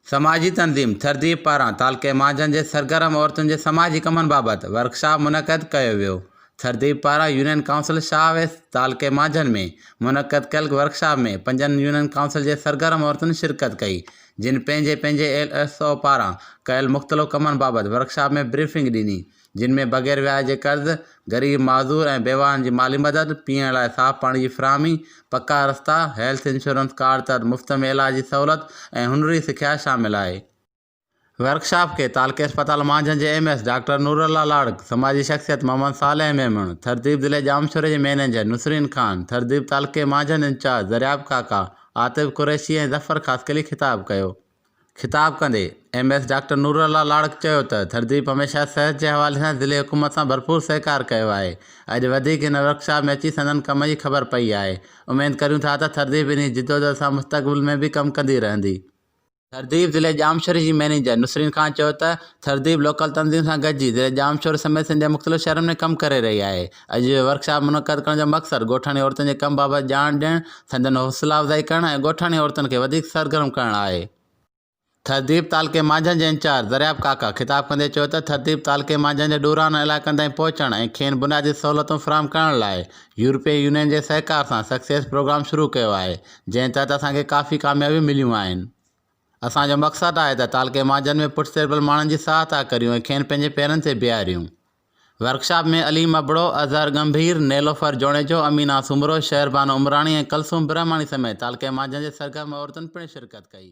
سماجي تنظيم تھذيب پاران تعلقي مھاجن جي سرگرم عورتن جي سماجي ڪمن بابت ورڪشاپ منعقد ڪيو ويو تھذيب پاران يونين ڪائونسل شاھ ويس تعلقي مھاجن ۾ منعقد ڪيل ورڪشاپ ۾ پنجن يونين ڪائونسل جي سرگرم عورتن شرڪت ڪئي جن پنھنجي پنھنجي ايل ايس او پاران ڪيل مختلف ڪمن بابت ورڪشاپ ۾ بريفنگ ڏني جن ۾ بغير وياج جي قرض، غريب معذور ۽ بيواهن جي مالي مدد، پيئڻ لاء صاف پاڻي جي فراهمي، پڪا رستا، هيلٿ انشورنس ڪارڊ تحت مفت ۾ علاج جي سهولت ۽ هنري سکيا شامل آهي. ورڪشاپ کي تعلقي اسپتال مانجهند جي M S doctor Noorullah Larik, سماجي شخصيت محمد صالح ميمڻ، ٿرديپ ضلعي ڄامشوري جي مئنيجر نسرين خان، ٿرديپ تعلقي مانجهند انچارج درياب ڪاڪا، عاطف قريشي ۽ ظفر خاصخيلي خطاب ڪيو. خطاب ڪندي M S doctor Noor Ullah Larik چيو ته ڌرتديپ هميشه صحت جي حوالي سان ضلعي حڪومت سان ڀرپور سهڪار ڪيو آهي، اڄ وڌيڪ هن ورڪشاپ ۾ اچي سندن ڪم جي خبر پئي آهي، اميد ڪريون ٿا ته ڌرتديپ انهي جدوجهد سان مستقبل ۾ به ڪم ڪندي رهندي. ڌرتديپ ضلعي ڄامشوري جي مئنيجر نسرين خان چيو ته ڌرتديپ لوڪل تنظيم سان گڏجي ضلعي ڄامشوري سميت سنڌ جي مختلف شهرن ۾ ڪم ڪري رهي آهي، اڄ جو ورڪشاپ منعقد ڪرڻ جو مقصد ڳوٺاڻي عورتن جي ڪم بابت ڄاڻ ڏيڻ، سندن حوصلا افزائي ڪرڻ ۽ ڳوٺاڻي عورتن کي وڌيڪ سرگرم ڪرڻ آهي. ٿرڌيب تعلقي مانجهند جي انچارج درياب ڪاڪا خطاب ڪندي چيو ته ٿرڌيب تعلقي مانجهند جي ڏورانهن علائقن تائين پهچڻ ۽ کين بنيادي سهولتون فراهم ڪرڻ لاء يورپين يونين جي سهڪار سان سڪسيس پروگرام شروع ڪيو آهي جنهن تحت اسان کي ڪافي ڪاميابيون مليون آهن. اسان جو مقصد آهي ته تعلقي مانجهند ۾ پٺتيربل ماڻهن جي ساهتا ڪريون ۽ کين پنهنجي پيرن تي بيهاريون. ورڪشاپ ۾ عليم ابڙو، اظهر ڳنڀير، نيلوفر جوڻيجو، امينه سومرو، شهربانو عمراڻي ۽ ڪلثوم برهماڻي سميت تعلقي مانجهن جي سرگرم عورتن پڻ شرڪت ڪئي.